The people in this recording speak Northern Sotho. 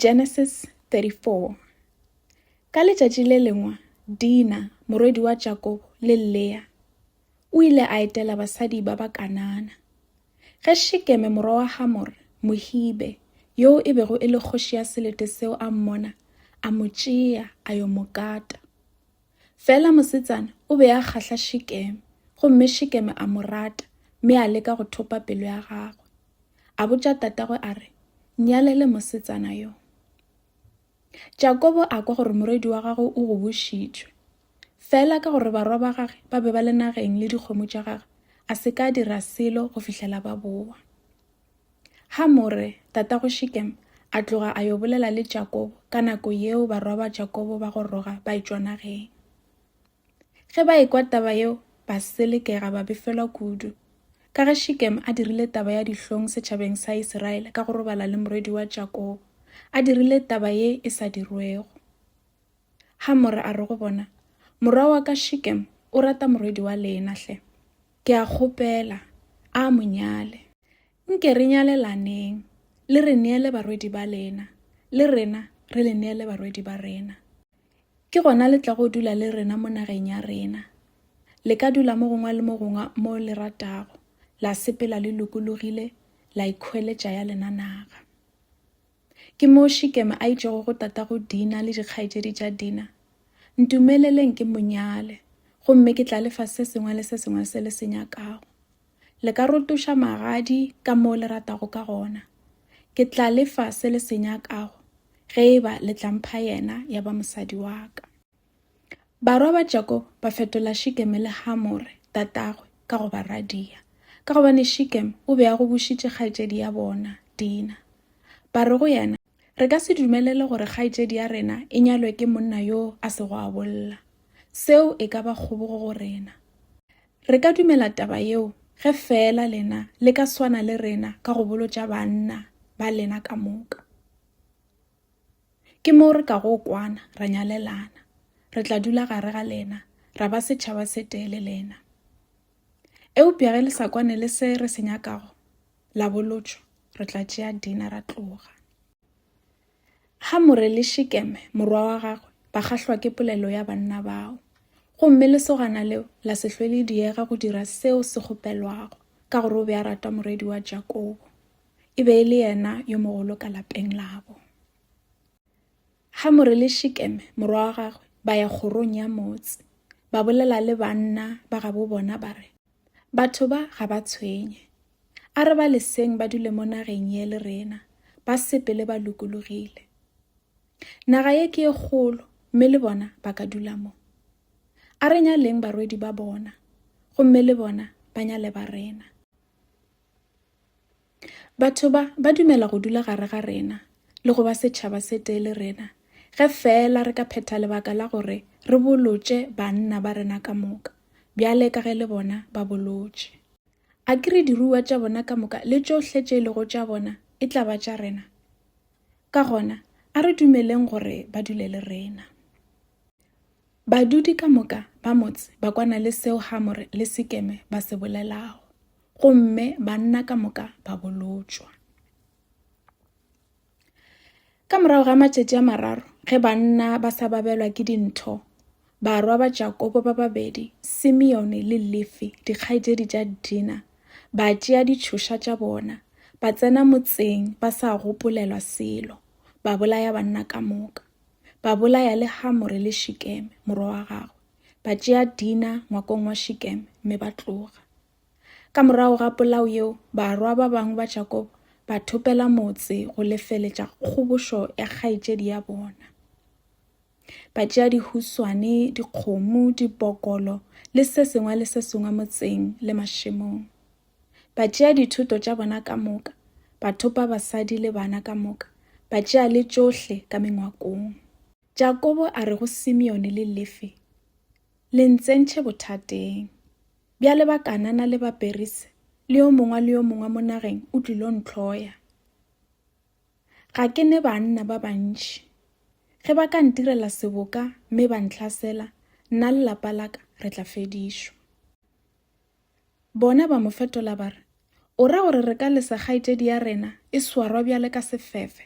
Genesis 34 Ka letšatši le lengwe Dina morwedi wa Jakobo le Lea o ile a etela basadi ba ba Kanana. Ge Shekeme morwa wa Hamore Mohibe yoo e bego e le kgoši ya selete seo a mmona, a mo tšea a yo mo kata. Fela mosetsana o be a kgahla Shekeme, gomme Shekeme a mo rata mme a leka go thopa pelo ya gagwe. A botša tatagwe a re, Nnyalele mosetsana yo. Jakobo a kwa gore morwedi wa gagwe o gobošitšwe. Fela ka gore barwa ba gage ba be ba le nageng le dikgomo tša gagwe, a se ka dira selo go fihlela ba bowa. Hamore, tatago Shekem, a tloga a yo bolela le Jakobo ka nako yeo barwa ba Jakobo ba go roga ba etšwa nageng. Ge ba ekwa taba yeo, ba selekega ba befelwa kudu, ka ge Shekem a dirile taba ya dihlong setšhabeng sa Isiraele ka go robala le morwedi wa Jakobo, a dirile taba ye e sa dirwego. Hamore a re go bona, Morwa wa ka Shekem o rata morwedi wa lena hle. Ke a kgopela a mo nyale. Nke re nyalelaneng, le re neele barwedi ba lena, le rena re le neele barwedi ba rena. Ke gona le tlago dula le rena mo nageng ya rena. Le ka dula mo gongwe le mo gongwe mo le ratago, la sepela le lokologile, la ikhweletša ya lena naga. Ke moo Shikeme a itšego go tatago Dina le dikgaetšedi tša Dina, Ntumeleleng ke mo nyale, gomme ke tla le fa se sengwe le se sengwe se le se nyakago. Le ka rotoša magadi ka moo le ratago ka gona. Ke tla le fa se le se nyakago ge e ba le tla mpha yena ya ba mosadi wa ka. Barwa ba Jakobo ba fetola Shikeme le Hamore tatagwe ka go ba radia, ka gobane Shikeme o be a go bušitše kgaetšedi ya bona, Dina. Ba re go yena, Re ka se dumelele gore kgaetšedi ya rena e nyalwe ke monna yo a sego a bolla. Seo e ka ba kgobogo go rena. Re ka dumela taba yeo ge feela lena le ka swana le rena ka go bolotša banna ba lena ka moka. Ke moo re kago kwana, ra nyalelana. Re tla dula gare ga lena, ra ba setšhaba se tee le lena. Eupša ge le sa kwane le se re se nyakago, la bolotšwa, re tla tšea Dina ra tloga. Hamore le Shekeme morwa wa gagwe ba kgahlwa ke polelo ya banna bao, gomme lesogana leo la se hlwe le diega go dira seo se kgopelwago, ka gore o be a rata morwedi wa Jakobo. e be e le yena yo mogolo ka lapeng labo. Hamore le Shekeme morwa wa gagwe ba ya kgorong ya motse, ba bolela le banna ba gabo bona ba re, Batho ba ga ba tshwenye. A re ba leseng ba dule mo nageng ye le rena, ba sepele ba lokologile. Naga ye ke e kgolo, mme le bona ba ka dula mo. A re nyaleng barwedi ba bona, gomme le bona ba nyale ba rena. Batho ba ba dumela go dula gare ga rena le go ba setšhaba se tee le rena ge feela re ka phetha lebaka la gore re bolotše banna ba rena ka moka bjale ka ge le bona ba bolotše. A ke re diruiwa tša bona ka moka le tšohle tše e lego tša bona e tla ba tša rena? Ka gona, a re dumeleng gore ba dule le rena. Badudi ka moka ba motse ba kwana le seo Hamore le Sekeme ba se bolelago. gomme banna ka moka ba bolotšwa ka morago ga matšatši a mararo ge banna ba sa babelwa ke dintho barwa ba jakobo ba babedi simeone le lefi dikgaetšedi tša dina ba tšea ditšhoša tša bona ba tsena motseng ba sa gopolelwa selo ba bolaya banna ka moka ba bolaya le hamore le shikeme morwa wa gagwe ba tšea dina ngwakong wa shikeme mme ba tloga Ka morago ga polao yeo, barwa ba bangwe ba Jakobo ba thopela motse go lefeletša kgobošo ya kgaetšedi ya bona. Ba tšea dihuswane, dikgomo, dipokolo le se sengwe le se sengwe motseng le mašemong. Ba tšea dithoto tša bona ka moka, ba thopa basadi le bana ka moka, ba tšea le tšohle ka mengwakong. Jakobo a re go Simeone le Lefi, Le ntsentšhe bothateng. Bjale Bakanana le Baperise le yo mongwe le yo mongwe mo nageng o tlilo ntlhoya. Ga ke ne banna ba bantši. Ge ba ka ntirela seboka mme ba ntlhasela, nna le lapa la ka re tla fedišwa. Bona ba mo fetola ba re, O ra gore re ka lesa kgaetšedi ya rena e swarwa bjale ka sefefe?